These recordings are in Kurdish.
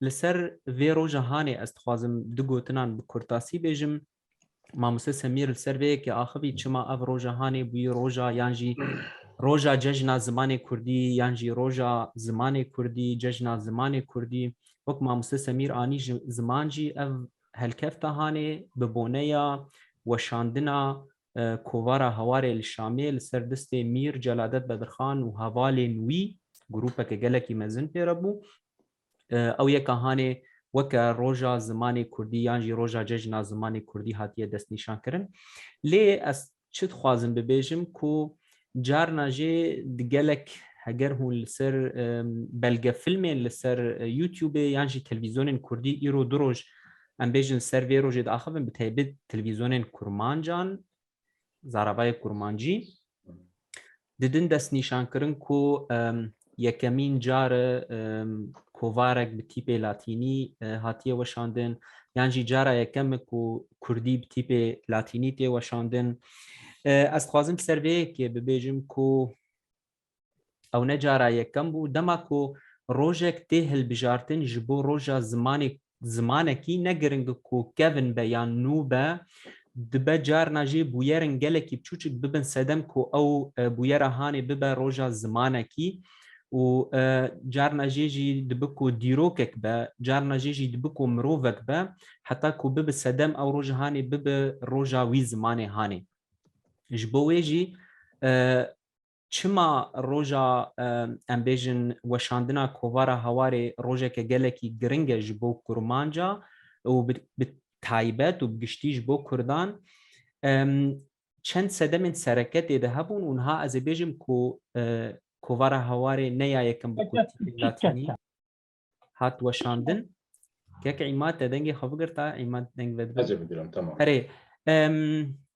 Li ser vê roja hanê ez dixwazim du gotinan bi kurtasî bêjim. Mamoste Semîr li ser vê yekê axivî çima ev roja hanê bûyî roja yan jî roja cejna zimanê kurdî yan jî roja zimanê kurdî, cejna zimanê kurdî. Wek mamoste Semîr anî ji ziman jî ev helkefta hanê bi boneya weşandina kovara Hewarê li Şamê li ser distê Mîr Celadet Bedirxan û hevalên wî, grûpeke gelekî mezin pê re bû. Ew yeka hanê weke Roja Zimanê Kurdî yan jî Roja Cejna Zimanê Kurdî hatiye destnîşankirin. Lê ez çi dixwazim bibêjim ku carna jê di gelek heger hûn li ser belgefilmên li ser Youtubê yan jî televîzyonên Kurdî îro du roj em bêjin ser vê rojê diaxivin bi taybet televîzyonên Kurmancan Zarabayê Kurmancî didin destnîşankirin ku yekemîn car kovarek bi tîpê latînî hatiye weşandin yan jî cara yekem ku kurdî bi tîpê latînî tê weşandin ez dixwazim ser vê yekê bibêjim ku Ew ne cara yekem bû dema ku rojek tê hilbijartin ji bo roja zimanê zimanekî ne giringe ku kevn be yan nû be, dibe carna jê bûyerên gelekî biçûçik bibin sedem ku ew bûyera hanê bibe roja zimanekî û carna jê jî dibe ku dîrokek be, carna jê jî dibe ku mirovek be heta ku bibe sedem ew roja hanê bibe roja wî zimanê hanê. Ji bo wê jî Çima roja em bêjin weşandina kovara hawarê rojeke gelekî giring e ji bo kurmanca û bi taybet û bi giştî ji bo kurdan çend sedemên sereke tê de hebûn û niha ez ê bêjim ku kovara hawarê ne ya yekem bi kurtî tê hatînî. hat weşandin. Kek îmad te dengê xwe bigirta, îmad deng ve Ez ê bigirim, temam. Erê,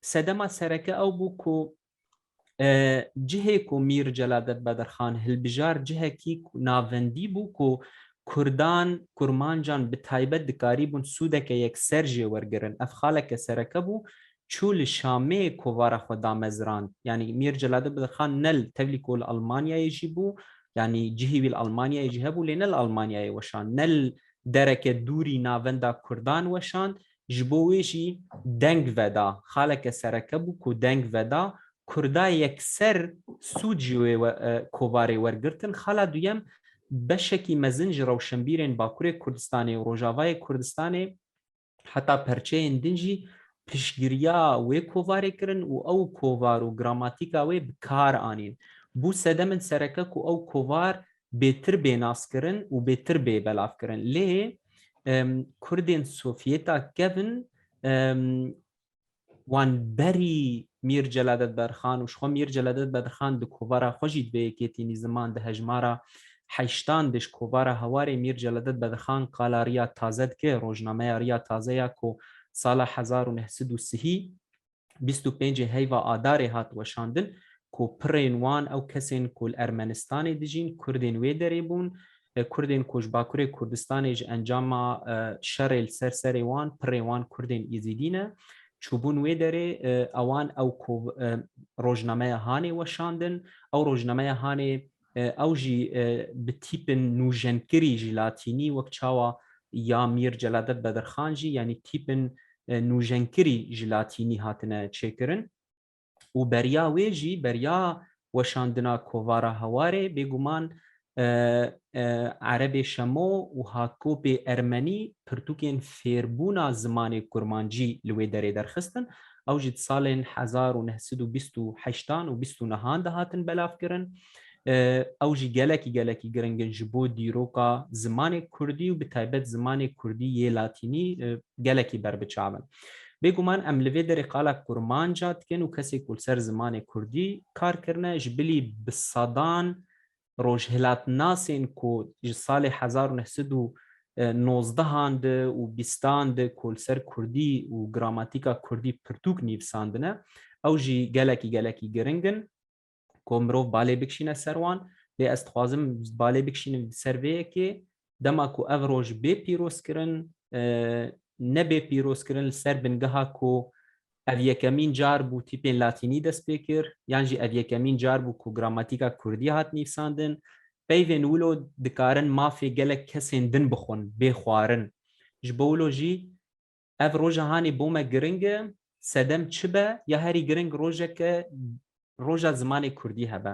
sedema sereke ew bû ku cihê ku Mîr Celadet Bedirxan hilbijar cihekî navendî bû ku Kurdan, Kurmancan bi taybet dikarîbûn sûdeke yekser jê wergirin. Ev xaleke sereke bû çû li Şamê kovara xwe damezrand. Yanî Mîr Celaleddin Bedirxan ne li tevlî ku li Elmanyayê jî bû, yanî cihê wî li Elmanyayê jî hebû lê ne li Elmanyayê weşand, ne li dereke dûrî navenda kurdan weşand, ji bo wê jî deng veda. Xaleke sereke bû ku deng veda, kurda yekser sûd ji wê kovarê wergirtin. Xala duyem beşekî mezin ji rewşenbîrên Bakurê Kurdistanê û Rojavayê Kurdistanê, heta perçeyên din jî piştgiriya wê kovarê kirin û ew kovar û gramatîka wê bi kar anîn. Bû sedem in sereke ku ew kovar bêtir bê naskirin û bêtir bê belavkirin. Lê Kurdên Sovyêta kevn wan berî Mîr Celadet Bedrxan û jixwe Mîr Celadet Bedrxan di kovara xwe jî di vê yekêtînî ziman di hejmara heştan de ji kovara hewarê Mîr Celadet Bedrxan qala Riya Taze dike, rojnameya Riya Taze ya ku sala hezar û neh sed û sihî bîst û pêncê heyva Adarê hat weşandin ku pirên wan ew kesên ku li Ermenistanê dijîn, kurdên wê derê bûn, Kurdên ku ji Bakurê Kurdistanê ji encama şerê li ser serê wan pirê wan Kurdên Îzîdî ne, çûbûn wê derê ewan ew ku rojnameya Hanê weşandin, ew rojnameya Hanê ew jî bi tîpin nûjenkirî ji latînî wek çawa ya Mîr Celadet Bedirxan jî yanî tîpin nûjenkirî ji latînî hatine çêkirin. û beriya wê jî beriya weşandina kovara Hewarê bêguman Erebê Şemo û Hatkopê Ermenî pirtûkên fêrbûna zimanê Kurmancî li wê derê derxistin. Ew jî di salên hezar û neh sed û bîst û heştan û bîst û nehan de hatin belavkirin. Ew jî gelekî gelekî giring in ji bo dîroka zimanê Kurdî û bi taybet zimanê Kurdî yê Latînî gelekî berbiçav in. Bêguman em li vê derê qala kurmanca dikin û kesê ku li ser zimanê kurdî kar kirine ji bilî bi sedan rojhilatnasên ku ji salê hezar û neh sed û nozdeh an di û bîstan di ku li ser kurdî û gramatîka kurdî pirtûk nîvsandine ew jî gelekî gelekî giring in. ku mirov balê bikişîne ser wan lê ez dixwazim balê bikişînim ser vê yekê dema ku ev roj bê pîrozkirin nebê pîrozkirin li ser bingeha ku ev yekemîn car bû tîpên latînî dest pê kir yan jî ev yekemîn car bû ku gramatîka kurdî hat nîvsandin peyvên wilo dikarin mafê gelek kesên din bixwin bê xwarin ji bo wilo jî Ev roja hanê bo me giring e, sedem çi be ya herî giring rojeke roja zimanê kurdî hebe.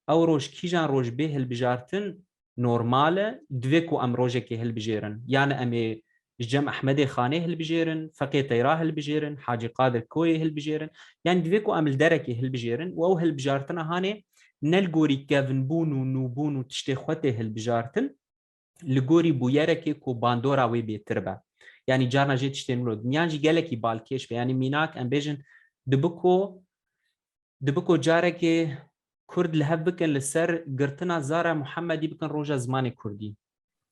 Ew roj kîjan roj bê hilbijartin normal e, divê ku em rojekê hilbijêrin. Yanê em ê ji cem Ehmedê Xanê hilbijêrin, Feqê Teyra hilbijêrin, Hacî Qadir Koyê hilbijêrin. Yanî divê ku em li derekê hilbijêrin û ew hilbijartina hanê ne li gorî kevnbûn û nûbûn û tiştê xwe tê hilbijartin, li gorî bûyerekê ku bandora wê bêtir be. Yanî carna jê tiştên min û dinyan jî gelekî balkêş be. Yanî mînak em bêjin dibiko dibiko carekê Kurd li hev bikin li ser girtina zara Muhemedî bikin roja zimanê Kurdî.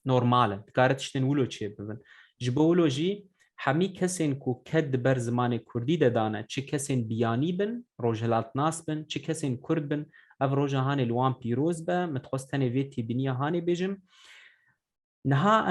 Normal e. Dikare tiştên wilo çêbibin. Ji bo wilo jî Hemî kesên ku ked di ber zimanê kurdî de dane, çi kesên biyanî bin, rojhilatnas bin, çi kesên kurd bin, ev roja hanê li wan pîroz be, min dixwest tenê vê têbîniya hanê bêjim. Niha